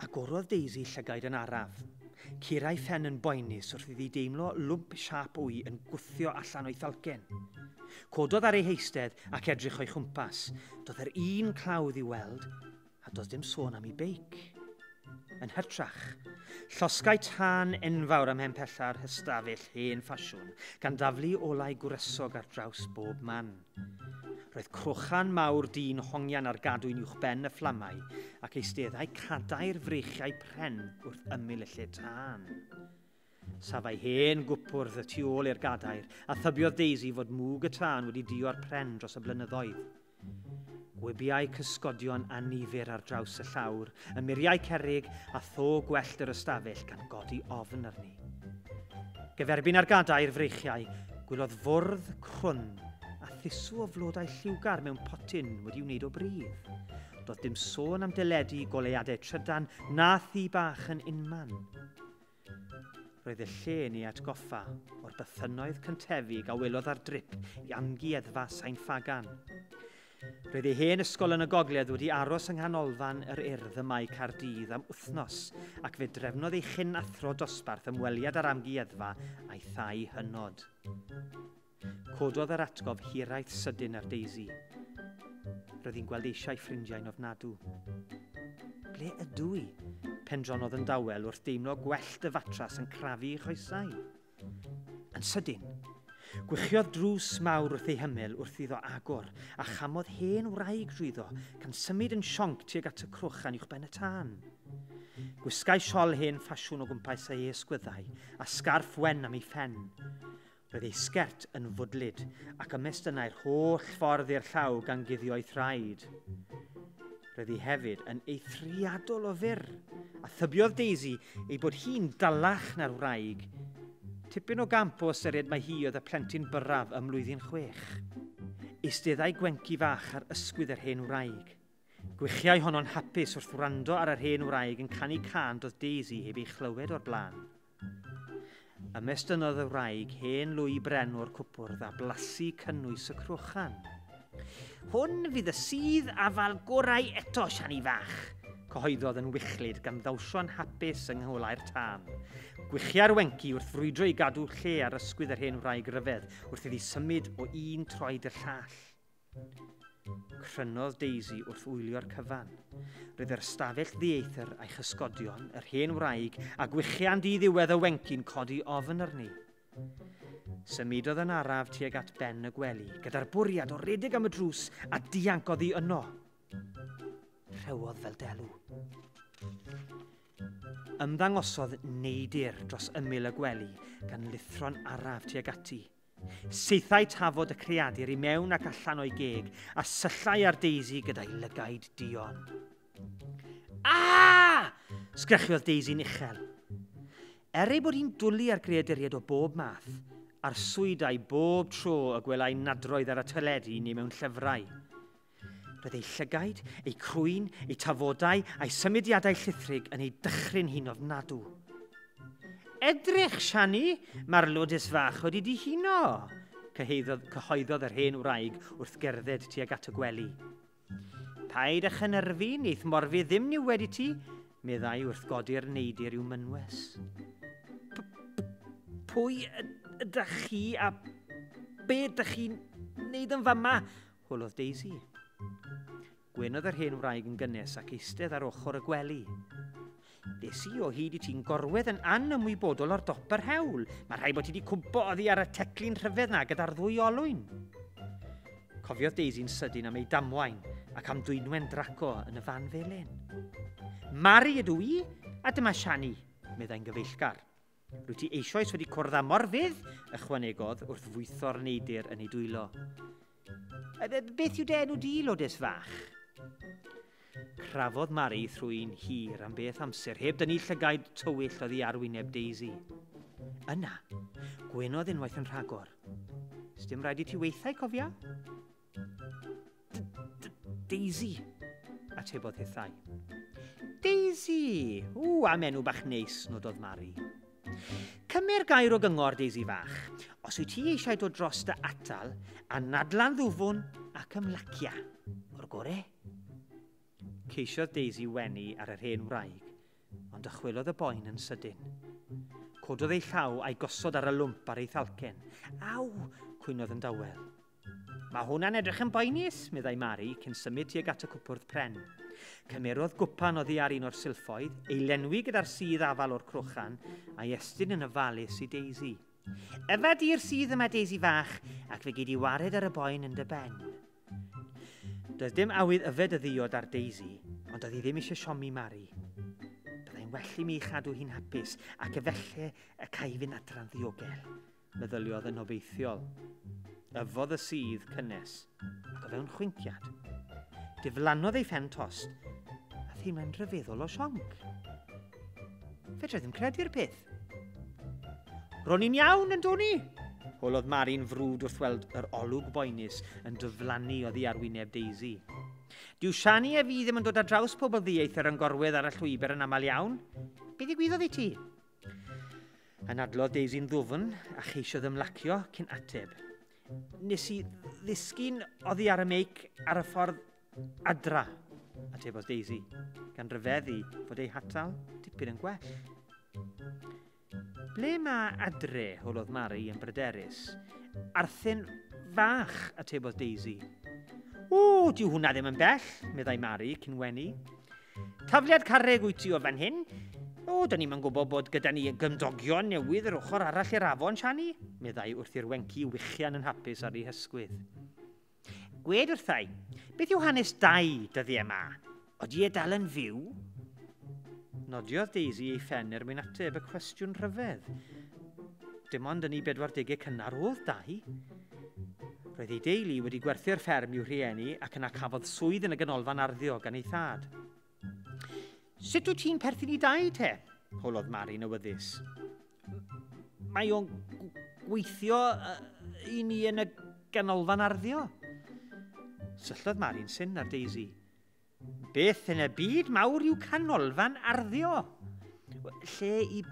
Agorodd Daisy llygaid yn araf. Cura'i phen yn boenus wrth iddi deimlo lwmp siâp wy yn gwthio allan o'i thalcen. Cododd ar ei heistedd ac edrych o'i chwmpas. Doedd yr un clawdd i weld, a doedd dim sôn am ei beic. Yn hytrach, llosgai tân enfawr am hen pella'r hystafell hen ffasiwn, gan daflu olau gwresog ar draws bob man. Roedd crochan mawr dyn hongian ar gadwyn uwch ben y fflamau ac eisteddau cadair freichiau pren wrth ymyl y lle tân. Safai hen gwpwrdd y tu ôl i'r gadair a thybiodd Daisy fod mwg y tân wedi dio ar pren dros y blynyddoedd. Gwybiau cysgodion anifyr ar draws y llawr, y muriau cerig a tho gwellt yr ystafell gan godi ofn arni. Gyferbyn ar gadair freichiau, gwylodd fwrdd crwn a thusw o flodau lliwgar mewn potyn wedi wneud o bridd. Doedd dim sôn am deledu i goleuadau trydan na thi bach yn unman. Roedd y lle yn ei atgoffa o'r bythynnoedd cyntefig a welodd ar drip i amgueddfa Sain Ffagan. Roedd ei hen ysgol yn y gogledd wedi aros yng nghanolfan yr urdd ym Mae Caerdydd am wythnos ac fe drefnodd ei chyn athro dosbarth ymweliad â'r amgueddfa a'i thai hynod. Cododd yr atgof hiraeth sydyn ar Daisy. Roedd hi'n gweld eisiau ffrindiau'n ofnadw. Ble ydw i? Pendronodd yn dawel wrth deimlo gwellt y fatrás yn crafu ei choesau. Yn sydyn, gwichiodd drws mawr wrth ei hymyl wrth iddo agor, a chamodd hen wraig drwyddo, gan symud yn sionc tuag at y crwch gan uwchben y tân. Gwisgai siol hen ffasiwn o gwmpas ei esgwyddau, a sgarff wen am ei phen. Roedd ei sgert yn fwdlyd, ac ymestynnai'r holl ffordd i'r llaw gan guddio'i thraed. Roedd hi hefyd yn eithriadol o fyr, a thybiodd Daisy ei bod hi'n dalach na'r wraig. Tipyn o gamp o ystyried mae hi oedd y plentyn byrraf ym mlwyddyn chwech. Eisteddai gwenci fach ar ysgwydd yr hen wraig. Gwichiau honno'n hapus wrth wrando ar yr hen wraig yn canu can doedd Daisy heb ei chlywed o'r blaen. Ymestynnodd y wraig hen lwy bren o'r cwpwrdd a blasu cynnwys y crochan. Hwn fydd y sydd afal gorau eto, Siani fach, cyhoeddodd yn wichlyd gan ddawsio'n hapus yng ngholau'r tân. Gwichia'r wenci wrth frwydro i gadw lle ar ysgwydd yr hen wraig ryfedd wrth iddi symud o un troed i'r llall. Crynodd Daisy wrth wylio'r cyfan. Roedd yr ystafell ddieithr a'i chysgodion, yr hen wraig, a gwichian di ddiwedd y wenci'n codi ofn arni. Symudodd yn araf tuag at ben y gwely, gyda'r bwriad o redeg am y drws a dianc oddi yno. Rhewodd fel delw. Ymddangosodd neidir dros ymyl y gwely gan lithro'n araf tuag ati. Saethai tafod y creadur i mewn ac allan o'i geg a syllai ar Daisy gyda'i lygaid dion. Ah! Sgrechiodd Daisy'n uchel. Er ei bod hi'n dwlu ar greaduriaid o bob math, arswydau bob tro y gwelai nadroedd ar y teledu neu mewn llyfrau. Roedd ei llygaid, ei crwyn, ei tafodau a'i symudiadau llithrig yn ei dychryn hi'n ofnadw. Edrych, Siani, mae'r lodus fach wedi dihuno, cyhoeddodd, cyhoeddodd yr hen wraig wrth gerdded tuag at y gwely. Paid â chynyrfu, neith morfi ddim ni wedi ti, meddai wrth godi'r neidir i'w mynwes. Pwy ydych chi a be ydych chi'n neud yn fama? Holodd Daisy. Gwyn oedd yr hen wraig yn gynnes ac eistedd ar ochr y gwely. Des i o hyd i ti'n gorwedd yn anymwybodol o'r dop yr hewl. Mae rhai bod ti wedi cwmpo oddi ar y teclyn rhyfedd na gyda'r ddwy olwyn. Cofiodd Daisy'n sydyn am ei damwain ac am dwynwen draco yn y fan felyn. Mari ydw i, a dyma Shani, meddai'n gyfeillgar. Rwyt ti eisoes wedi cwrdd â morfydd, ychwanegodd wrth fwytho'r neidr yn ei dwylo. Beth yw dy enw di, lodes fach? Crafodd Mari thrwy'n hir am beth amser, heb dynnu llygaid tywyll oddi ar wyneb Daisy. Yna, gwenodd unwaith yn rhagor. Sdim rhaid i ti weithau, cofia? Daisy, atebodd hithau. Daisy! Ww, am enw bach neis, nododd Mari. Cymer gair o gyngor, Daisy fach. Os wyt ti eisiau dod dros dy atal, a nadlan ddwfwn ac ymlacia. O'r gore? Ceisiodd Daisy wenu ar yr hen wraig, ond ychwelodd y boen yn sydyn. Cododd ei llaw a'i gosod ar y lwmp ar ei thalcen. Aw! cwynodd yn dawel. Mae hwnna'n edrych yn boenus, meddai Mari, cyn symud tuag at y cwpwrdd pren. Cymerodd gwpan oddi ar un o'r silffoedd, ei lenwi gyda'r sydd afal o'r crochan, a'i estyn yn ofalus i Daisy. Yfa di'r sydd yma, Daisy fach, ac fe gei di wared ar y boen yn dy ben. Doedd dim awydd yfed y ddiod ar Daisy, ond oedd hi ddim eisiau siomi Mari. Byddai'n well i mi chadw hi'n hapus, ac efelle y cae fynd adran ddiogel. meddyliodd yn obeithiol. Yfodd y sudd cynnes, ac o fewn chwinciad, diflannodd ei phen tost, a theimlai'n rhyfeddol o sionc. Fedra ddim credu'r peth. Ro'n i'n iawn, yn doni? Holodd Mari'n frwd wrth weld yr olwg boenus yn dyflannu oddi ar wyneb Daisy. Dyw Shani a fi ddim yn dod â draws pobl ddieithr yn gorwedd ar y llwybr yn aml iawn. Be ddigwyddodd i ti? Anadlodd Daisy'n ddwfn a cheisiodd ymlacio cyn ateb. Nes i ddisgyn oddi ar y meic ar y ffordd adra, atebodd Daisy, gan ryfeddu fod ei hatal tipyn yn gwell. Ble mae adre, holodd Mari yn bryderus. Arthyn fach, atebodd Daisy. O, dyw hwnna ddim yn bell, meddai Mari cyn wenu. Tafliad carreg wyt ti o fan hyn? O, da ni'n gwybod bod gyda ni gymdogion newydd yr ochr arall i'r afon, Shani, meddai wrth i'r wenci wichian yn hapus ar ei hysgwydd. Gwed wrthau, beth yw hanes dau dyddiau yma? Oeddi e dal yn fyw? Nodiodd Daisy ei phen er mwyn ateb y cwestiwn rhyfedd. Dim ond yn ei 40au cynnar oedd dau. Roedd ei deulu wedi gwerthu'r fferm i'w rhieni ac yna cafodd swydd yn y ganolfan arddio gan ei thad. Sut wyt ti'n perthyn i dau te? holodd Mari'n awyddus. Mae o'n gweithio i ni yn y ganolfan arddio. Syllodd Mari'n syn ar Daisy. Beth yn y byd mawr yw canolfan arddio? Lle i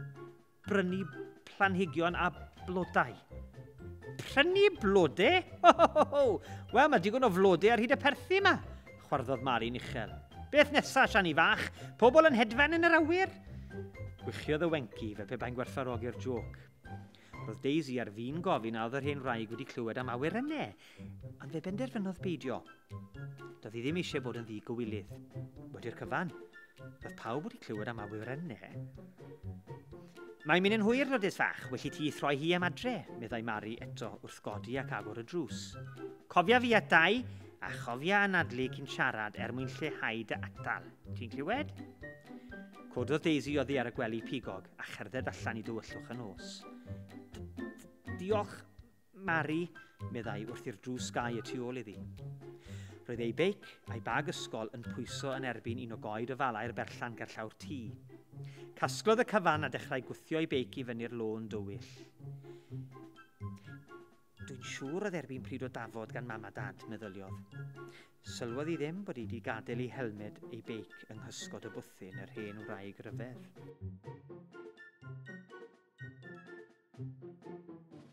Prynu planhigion a blodau. Prynu blodau? Ho, ho, ho, ho. Wel, mae digon o flodau ar hyd y perthi yma, chwarddodd Mari'n uchel. Beth nesa, Siani fach? Pobl yn hedfan yn yr awyr? Gwychiodd y wenci fe pe bai'n gwerthfarogi'r joc. Roedd Daisy ar fin gofyn a oedd yr hen wraig wedi clywed am awyr yne, Ond fe benderfynodd beidio. Doedd hi ddim eisiau bod yn ddi-gywilydd. Wedi'r cyfan, roedd pawb wedi clywed am awyrenne. Mae'n mynd yn hwyr, Lourdes fach, welli ti throi hi am adre, meddai Mari eto wrth godi ac agor y drws. Cofia fi at dau, a chofia anadlu cyn siarad er mwyn lleihau dy atal. Ti'n clywed? Cododd Daisy oddi ar y gwely pigog a cherdded allan i dywyllwch y nos. Diolch, Mari, meddai wrthi'r drws gau y tu ôl iddi. Roedd ei beic a'i bag ysgol yn pwyso yn erbyn un o goed o falau'r berllan gerllaw'r tŷ. Casglodd y cyfan a dechrau gwthio ei beic i fyny'r lôn dywyll. Dwi'n siŵr oedd erbyn pryd o dafod gan mam a dad, meddyliodd. Sylwodd i ddim bod wedi gadael ei helmed ei beic yng nghysgod y bwthyn yr hen wraig ryfedd.